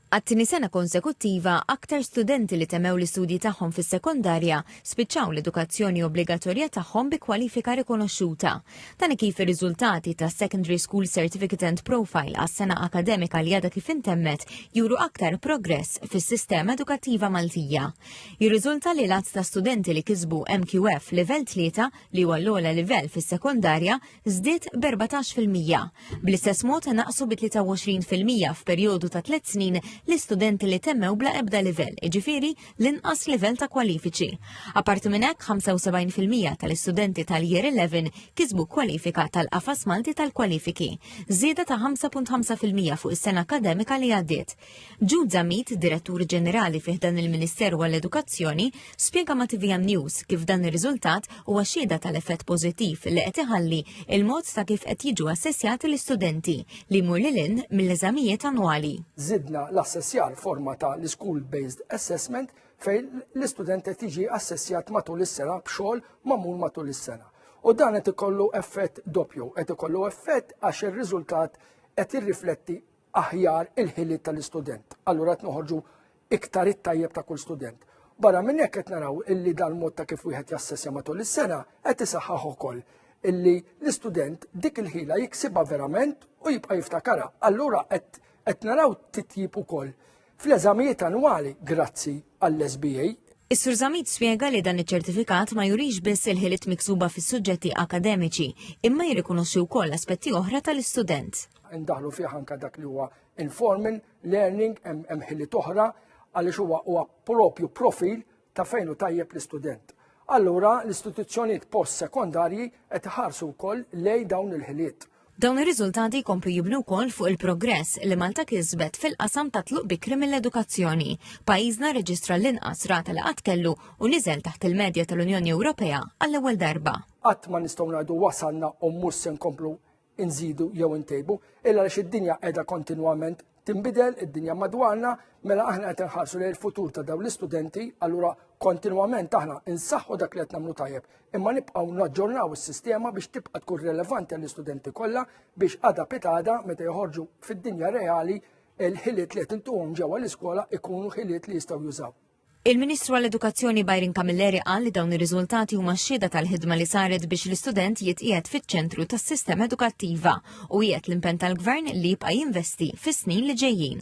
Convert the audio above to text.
Għat-tieni sena konsekuttiva, aktar studenti li temmew l-istudji tagħhom fis-sekondarja spiċċaw l-edukazzjoni obbligatorja tagħhom bi kwalifika rikonoxxuta. Dan hi kif ir-riżultati tas-Secondary School Certificate and Profile għas-sena akademika li għadha kif intemmet juru aktar progress fis-sistema edukattiva Maltija. Jirriżulta li l-għadd ta' studenti li kisbu MQF livell tlieta li huwa l-ogħla livell fis-sekondarja żdied b'14 fil-mija. Bl-istess mod naqsu bi 23 fil-mija f'perjodu ta' tliet snin l-istudenti li temmew bla ebda livell, iġifieri l-inqas livell ta' kwalifiċi. Apparti minn hekk, 75 fil-mija tal-istudenti tal-Year 11 kisbu kwalifika tal-Qafas Malti tal-Kwalifiki, żieda ta' 5.5 fil-mija fuq is-sena akkademika li għaddiet. Jude Zammit, Direttur Ġenerali fih dan il-Ministeru għall-Edukazzjoni, spjega ma' TVM News kif dan ir-riżultat huwa xhieda tal-effett pożittiv li qed iħalli il-mod ta' kif qed jiġu assessjati l-istudenti li jmur lil hinn mill-eżamijiet annwali. Żidna l-assessjar forma ta' l-school-based assessment fejn l-istudent qed jiġi assessjat matul is-sena b'xogħol magħmul matul is-sena. U dan qed ikollu effett doppju, qed ikollu effett għax ir-riżultat qed jirrifletti aħjar il-ħiliet tal-istudent. Allura qed noħorġu iktar it-tajjeb ta' kull student. Barra minn hekk qed naraw illi dal-mod ta' kif wieħed jassessja matul is-sena qed isaħħaħ ukoll illi l-istudent dik il-ħila jiksibha verament u jibqa' jiftakarha. Allura qed naraw titjib ukoll fl-eżamijiet annwali grazzi għall-SBA. Is-Sur Zammit spjega li dan iċ-ċertifikat ma jurix biss il-ħiliet miksuba fis-suġġetti akademiċi, imma jirrikonoxxi wkoll aspetti oħra tal-istudent. Indaħlu fih anke dak li huwa informal learning hemm ħiliet oħra għaliex huwa huwa propju profil ta' fejn hu tajjeb l-istudent. Allura l-istituzzjonijiet post-sekondarji qed iħarsu wkoll lejn dawn il-ħiliet. Dawn ir-riżultati jkomplu jibnu wkoll fuq il-progress li Malta kisbet fil-qasam ta' tluq bikri mill-edukazzjoni. Pajjiżna rreġistra l-inqas rata li qatt kellu u niżel taħt il-medja tal-Unjoni Ewropea għall-ewwel darba. Qatt ma nistgħu ngħidu wasalna u mhux se nkomplu inżidu jew intejbu, illa għaliex id-dinja qiegħda kontinwament tinbidel id-dinja madwarna, mela aħna qed inħarsu lejn il-futur ta' dawn l-istudenti, allura kontinwament aħna insaħħu dak li qed nagħmlu tajjeb, imma nibqgħu naġġornaw is-sistema biex tibqa' tkun relevanti għall-istudenti kollha biex għada pitada meta joħorġu fid-dinja reali il-ħiliet li qed intuhom ġewwa l-iskola ikunu ħiliet li jistgħu jużaw. Il-Ministru għall-Edukazzjoni Byron Camilleri qal li dawn ir-riżultati huma xhieda tal-ħidma li saret biex l-istudent jitqiegħed fiċ-ċentru tas-sistema edukattiva u qiegħed l-impenn tal-Gvern li jibqa' jinvesti fis-snin li ġejjin.